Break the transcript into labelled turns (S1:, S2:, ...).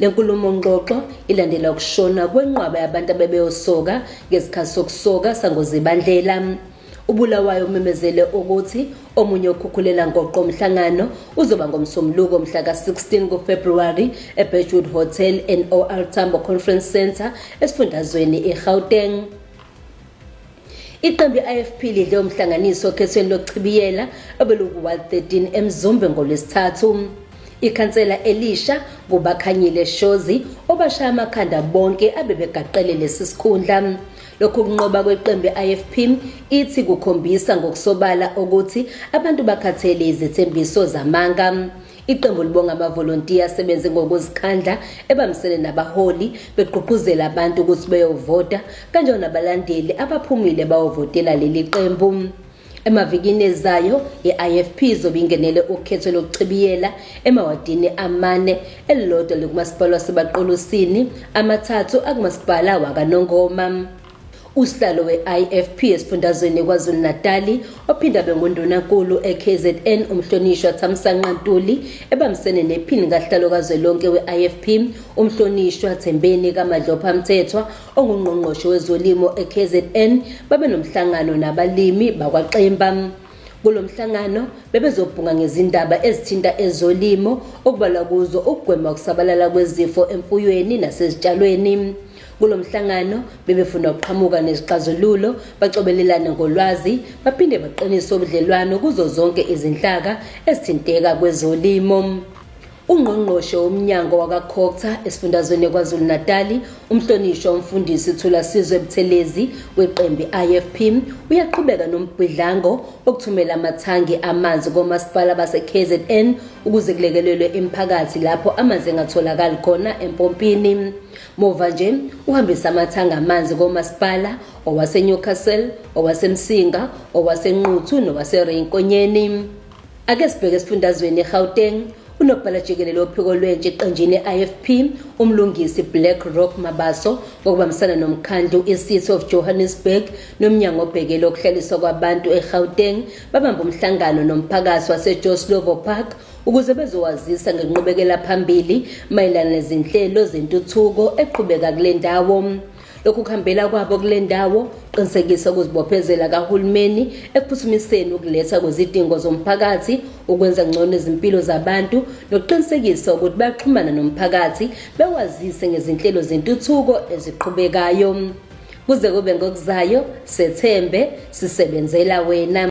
S1: Le nkulumo-ngxoxo ilandela ukushona kwenqwaba yabantu abebeyosoka ngesikhathi sokusoka sangozibandlela ubulawayo umemezele ukuthi omunye okhukhulela ngoqo umhlangano uzoba ngomsombuluko mhla ka-16 kufebruwari ebedgewood hotel nor tambo conference centre esifundazweni igauteng Iqembu i-IFP lidle umhlanganiso okhethweni lokuchibiyela obeluku-Ward 13 eMzumbe ngoLwesithathu. Ikhansela elisha kuBakhanyile Shozi obashaya amakhanda bonke abebegaqele lesi sikhundla. Lokhu kunqoba kweqembu i-IFP ithi kukhombisa ngokusobala ukuthi abantu bakhathele izethembiso zamanga. Iqembu libonga amavolontiya asebenze ngokuzikhandla ebambisene nabaholi begqugquzela abantu ukuthi beyovota kanjalo nabalandeli abaphumile bawovotela leli qembu. Emavikini ezayo i-IFP izobe ingenele ukhetho lokuchibiyela emawadini amane elilodwa likumasipala waseBaqulusini amathathu akumasipala waKaNongoma. Usihlalo we-IFP esifundazweni KwaZulu-Natali ophinde abe ngundunankulu eKZN uMhlonishwa Thamsanqa Ntuli ebambisene nephini kahlalo kazwelonke we-IFP uMhlonishwa Thembeni kaMadlopha Mthethwa ongungqongqoshe wezolimo eKZN babe nomhlangano nabalimi bakwaXimba. Kulo mhlangano bebezobhunga ngezindaba ezithinta ezolimo okubalwa kuzo ukugwema ukusabalala kwezifo emfuyweni nasezitshalweni. Kulo mhlangano bebefuna ukuqhamuka nezixazululo, bacobelelane ngolwazi, baphinde baqinise ubudlelwano kuzo zonke izinhlaka ezithinteka kwezolimo. Ungqongqoshe womnyango wakaCocta esifundazweni KwaZulu-Natali, umhlonishwa umfundisi Thulasizwe Buthelezi weqembi IFP, uyaqhubeka nombhidlango wokuthumela amathangi amanzi komasipala baseKZN ukuze kulekelelwe imiphakathi lapho amanzi engatholakali khona empompini. Muva nje uhambisa amathanga amanzi komasipala owaseNewcastle, owaseMsinga, owaseNquthu nowaseReyinkonyeni. Ake sibheke esifundazweni eGauteng unobhala jikelele wophiko lwentsha eqenjini IFP umlungisi Black Rock Mabaso ngokubambisana nomkhandlu iCity of Johannesburg nomnyango obhekele ukuhlaliswa kwabantu eGauteng babamba umhlangano nomphakathi waseJoslovo Park ukuze bezowazisa ngenqubekela phambili mayelana nezinhlelo zentuthuko eqhubeka kule ndawo lokhu kuhambela kwabo kule ndawo qinisekisa ukuzibophezela kahulumeni ekuphuthumiseni ukuletha kwezidingo zomphakathi ukwenza ngcono izimpilo zabantu nokuqinisekisa ukuthi baxhumana nomphakathi bewazise ngezinhlelo zentuthuko eziqhubekayo kuze kube ngokuzayo sethembe sisebenzela wena